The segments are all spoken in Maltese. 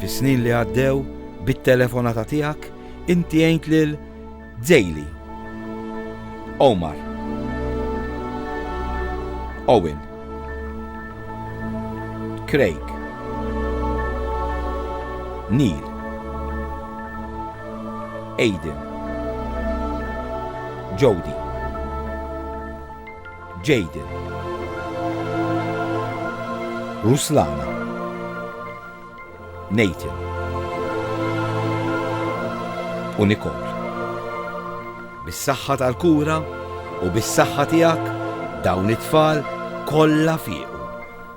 Fis-snin li għaddew, bit-telefonata tiegħek, inti għint lil Zejli, Omar, Owen, Craig, Neil, Aiden, Jody, Jayden. Ruslana. Nathan. U Nicole. Bis-saħħa tal-kura u bis-saħħa tiegħek dawn it-tfal kollha fiequ.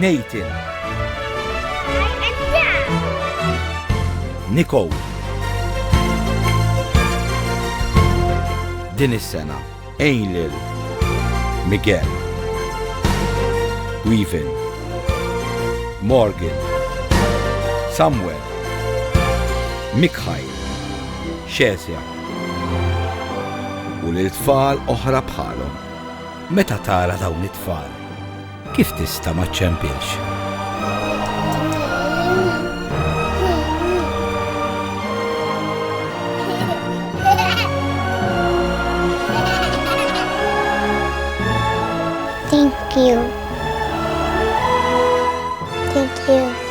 Nathan. Nicole. Din is-sena għin lil Miguel. Weavin. Morgan. Samuel. Mikhail. Xesja. U lil tfal oħra bħalhom. Meta tara dawn it-tfal, Kif tista' ma ċċempilx? Thank you. Thank you.